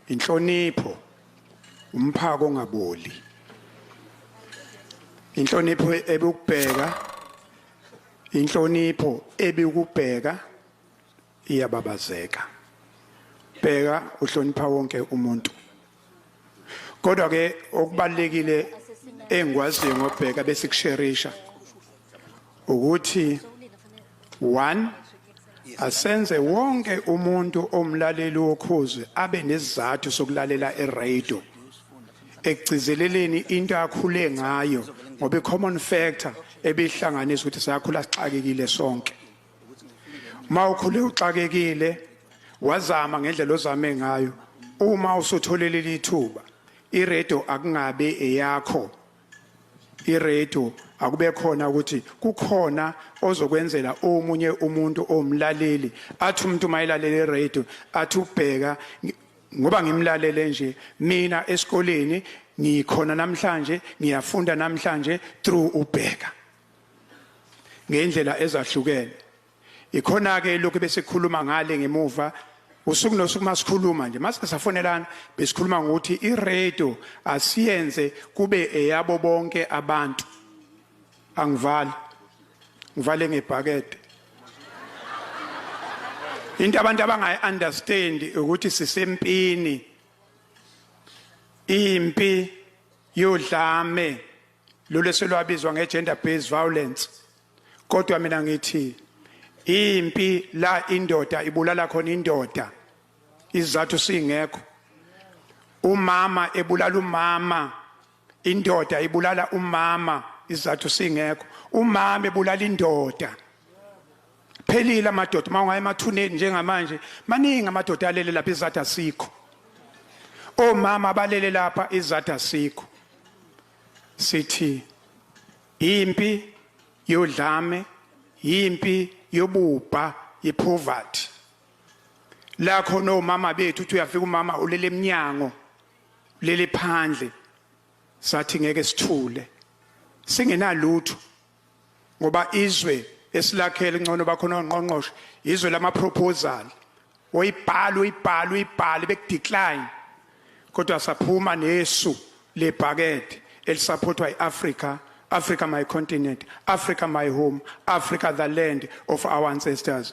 inhlonipho umphako ongaboli inhlonipho ebukubheka inhlonipho ebikubheka iyababazeka bheka uhlonipha wonke umuntu kodwa ke okubalekile engikwaziyo ngobheka bese kusherisha ukuthi one asenze wonke umuntu omlaleli wokhuzwe abe nesizathu sokulalela eradio ekugcizeleleni into akhule ngayo ngoba i-common factor ebihlanganisa ukuthi sakhula sixakekile sonke uma ukhule uxakekile wazama ngendlela ozame ngayo uma usutholele lithuba iredo akungabe eyakho iredo akube khona ukuthi kukhona ozokwenzela omunye umuntu omlaleli athi umuntu mayilalele iredo athi ubheka ngoba ngimlalele nje mina esikoleni ngikhona namhlanje ngiyafunda namhlanje through ubheka ngey'ndlela ezahlukene ikhona-ke lokhu besikhuluma ngale ngemuva usuku nosuku uma sikhuluma nje mase safonelana besikhuluma ngokuthi iradio asiyenze kube eyabo bonke abantu angivali ngivale ngebhakede into abantu abangayi-understand ukuthi sisempini impi yodlame lolu eselwabizwa nge-gender based violence kodwa mina ngithi impi la indoda ibulala khona indoda izizathu singekho umama ebulala umama indoda ibulala umama izizathu singekho umama ebulala indoda phelile amadoda uma ungaya emathuneni njengamanje maningi amadoda alele lapha izathu asikho omama abalele lapha izathu asikho sithi impi yodlame impi yobubha yepoverty la khona omama bethu uthi uyafika umama ulele eminyango lele phandle sathi ngeke sithule singenalutho ngoba izwe esilakhele ngcono bakhona ongqongqoshe izwe lama proposal oyibhala uyibhala uyibhala bekudecline kodwa saphuma nesu lebhakede elisaphothwa iAfrica Africa my continent Africa my home Africa the land of our ancestors